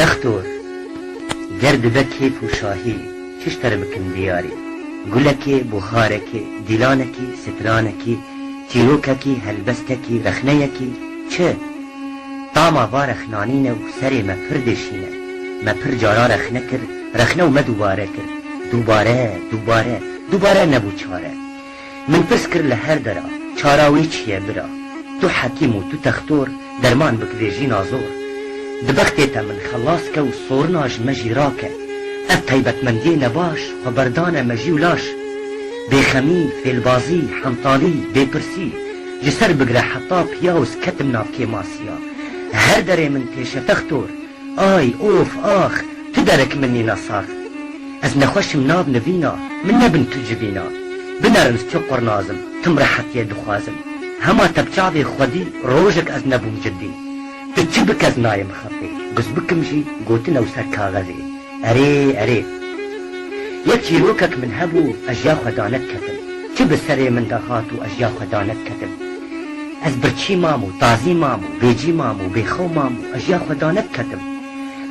Textor, ger dibe kêf û şahî, çi ji te re bikim diyarî? Gulekê, buxarekê, dîlanekî, sitranekî, çîrokekî, helbestekî, rexneyekî, çi? Tama va rexnanîne û serê me pir deşîne. Me pir caran rexne kir, rexne û me dûbare kir. Dûbare, dûbare, dûbare nebû çare. Min pirs kir li her dera, çara wê çi ye bira? Tu hekîm û tu textor, derman bik vê jîna zor. Di bextê te min xelas ke û sorina ji me jî rake. Ev taybetmendiyê nebaş xwe berdane mejî û laş. Bêxemî, fêlbazî, hentalî, bêpirsî. Ji ser bigre heta piyawz ketim nav kêmasiya. Her derê min tê şetextor, ay, of, ax, tu derek min nîna sax. Ez nexweşim nav nivîna, min nebin tu civîna. Binerins çi qurnas im, tim rehetiyê dixwazim. Hema tepçavê xwedî rojek ez nebûm cidî. Di çi bikes nayê mixapê. Biz bikim jî gotin ew ser kaxezê. Erê, erê. Yek çîrokek min hebû ez ya xwe danediketim. Çi bi serê min de hat û ez ya xwe danediketim. Ez birçî mam û tazî mam û bêcî mam û bêxew mam û ez ya xwe danediketim.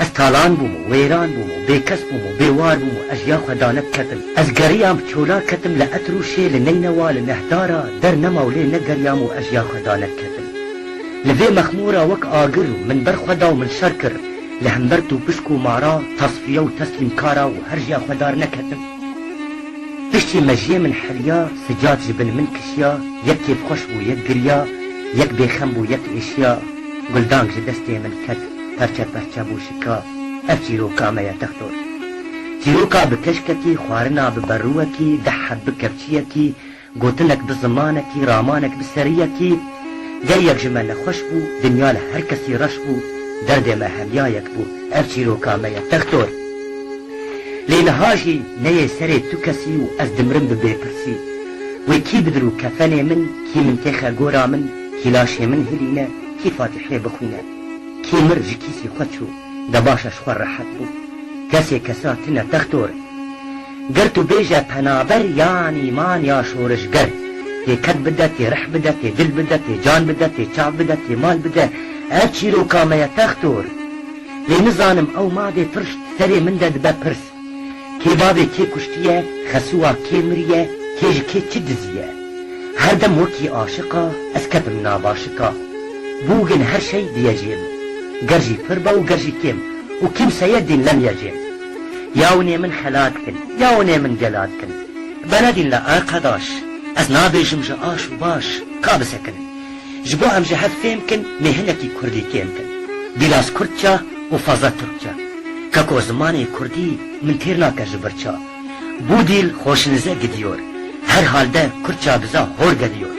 Ez talan bûm û wêran bûm û bêkes bûm û bêwar bûm û ez ya xwe danediketim. Ez geriyam bi çola ketim li Etrûşê, li Neynewa, li Nehdara, der nema û lê negeriyam û ez ya xwe danediketim. Li vê mexmora wek agir û min ber xwe da û min şer kir, li hember tûpisk û mara, tasfiye û teslîmkara û herjya xwe dar neketim. Piştî mejiyê min heriya, sicad ji bin min kişiya, yek kêfxweş bû yek giriya, yek bêxem bû yek êşiya, guldang ji destê min ket, perçe perçe bû şika, ev çîroka me ye textor. Çîroka bi keşkekî, xwarina bi berûwekî, deh heb bi kevçiyekî, Gotinek bi zimanekî, ramanek bi seriyekî, Ger yek ji me nexweş bû, dinya li her kesî reş bû, Derdê me hemya yek bû, ev çîroka me ye Textor. Lê niha jî neyê serê tu kesî û ez dimirim bi bêpirsî, Wê kî bidirû kefenê min, kî min têxe gora min, Kî laşê min hilîne, kî fatîhê bixwîne. Kî mir ji kîsî xwe çû, de baş e ji xwe rehet bû, Kesê kesa tune Textor. Ger tu bêje penaber yan îman ya şorişger, tê ked bide, tê rih bide, tê dil bide, tê can bide, tê çav bide, tê mal bide, ev çîroka me ye textor. Lê nizanim ew mavê pir serê min de dibe pirs. Kê bavê kê kuştiye, xesuwa kê miriye, kê ji kê çi diziye. Her dem wekî aşiqa ez ketim nava şika. Bûgin her şey diye jê min. Ger jî pir be û ger jî kêm. Û kîmseye dîn lem ye jê min. Ya winê min xelat kin, ya winê min gelat kin. Benedîn la arqedaş, ez nabêjim ji aş û baş, ka bisekinin. Ji bo em ji hev fêm kin nê hinekî kurdî kêm kin. Bîlas kurdça û fazla tirkça. Ka ko zimanê kurdî min têr nake ji bir ça. Bu dil hoşinize gidiyor. Her halde kurdça biza hor geliyor.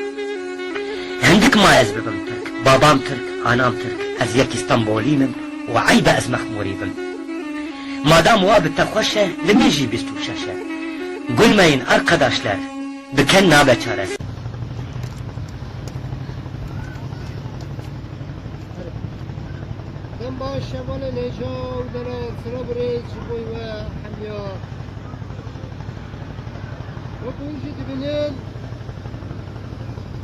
Hindik ma ez bibim tirk, babam tirk, anam tirk, ez yekî stenbolî mim û eybe ez mexmurî bim. Madam wa bi te xweş e, li min jî bîst û şeş e. Gulmeyên arqedaşler, biken nabe çareser. Dem baş e vale lêja û dere sira birê ji bo we hemiya. Wek hûn jî dibînin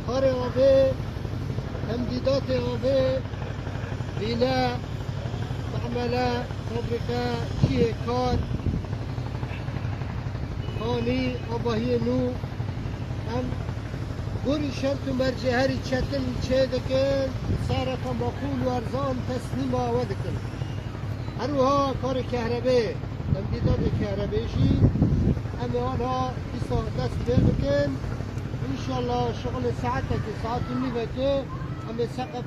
xarê avê hem dîdatê avê vîne. Mehmele, fabrîke, cihê kar, xanî, avahiyê nû em gorî şert û mercê herî çetin çêdikin, sereke maqûl û erzan teslîma we dikin. Her wiha karê kehrebê, temdîdatê kehrebê jî em ê aniha dîsa dest pê bikin. Înşallah şixulê saetekê, saet û nîvekê em ê seqet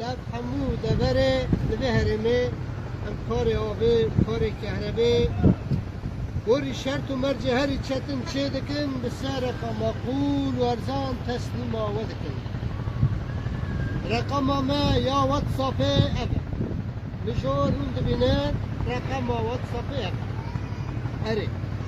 Lav hemû deverê li vê herêmê em karê avê, karê kehrebê, gorî şert û mercê herî çetin çê dikin, bi se reqa maqûl û erzan teslîma we dikin. Reqama me ya WhatsAppê ev e. Min ji we rûn dibîne reqama WhatsAppê ev e. Erê.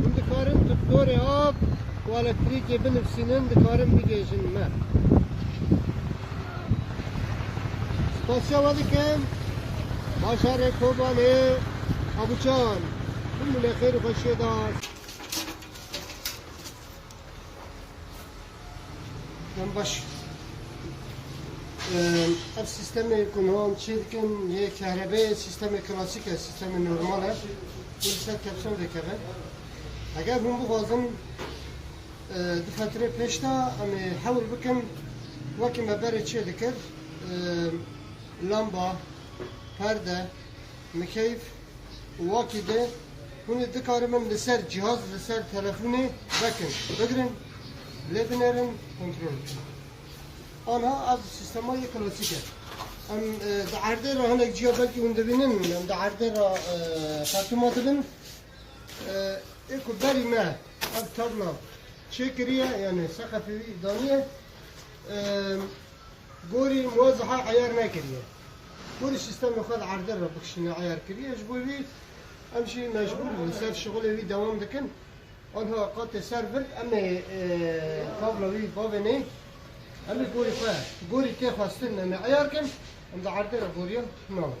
Hûn dikarin tuktorê av û elektrîkê binivîsînin dikarin bigêjin me. Spasiya we dikim bajarê Kobanê Abucan hûn min e xêr û xweşiyê da. Em baş ev sîstemê ku niha em çê dikin yê kehrebeyê sîstemê klasîk e, sîstemê normal e û li ser tepsol dikeve. Eger hûn bixwazin du fetirê pêş de em ê hewl bikin wekî me berê çê dikir lamba, perde, mikeyf, Wakî de hûn ê dikarin min li ser cihaz, li ser telefonê vekin, bigirin lê binêrin kontrol bikin. Anha ev sîstema yê klasîk e. Em di erdê re hinek cîya belkî hûn dibînin, em di erdê re xertûma dibin. Ê ku berî me ev tabla çêkiriye yanî seqefê wî daniye. Gorî muwezeha eyar nekiriye. Gorî sîstemê xwe li erdê re bikişîne eyar kiriye. Ji bo vî em jî mecbûr li ser şixulê wî dewam dikin. Anha qatê ser vir em ê kabla wî bavê neyê. Em ê gorî xwe gorî tê xwestin em ê eyar kin. Em di erdê re gorîya naxin.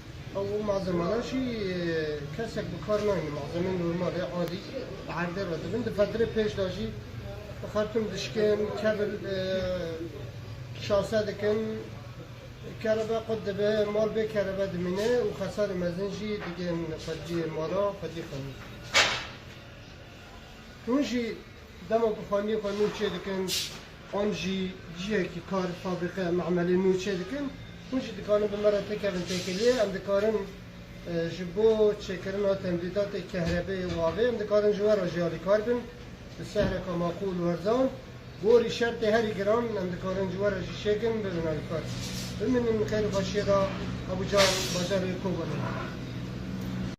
Ev û malzemelan jî kesek bi kar nayne, malzemeyên normal e, adî li erdê re dibin. Di fetirê pêş de jî li Xartûm dişkin, kevil şase dikin, kerebe qut dibe, mal bê kerebe dimîne û xesalê mezin jî digihîn xweciyê mala xwecî xwe. Hûn jî dema ku xwendiyên xwe nû çêdikin an jî cihekî kar, fabrîqe, me'melê nû çêdikin, hûn jî dikarin bi me re pêkevin têkiliyê. Em dikarin ji bo çêkirina temdîdatê kehrebeyê û avê em dikarin ji we re jî alîkar bin bi sehreka maqûl û erzan. Gorî şertê herî giran em dikarin ji we re jî çêkin bibin alîkar. Bimînin xêr û xweşiyê re Abujan, bajarê Kobanê.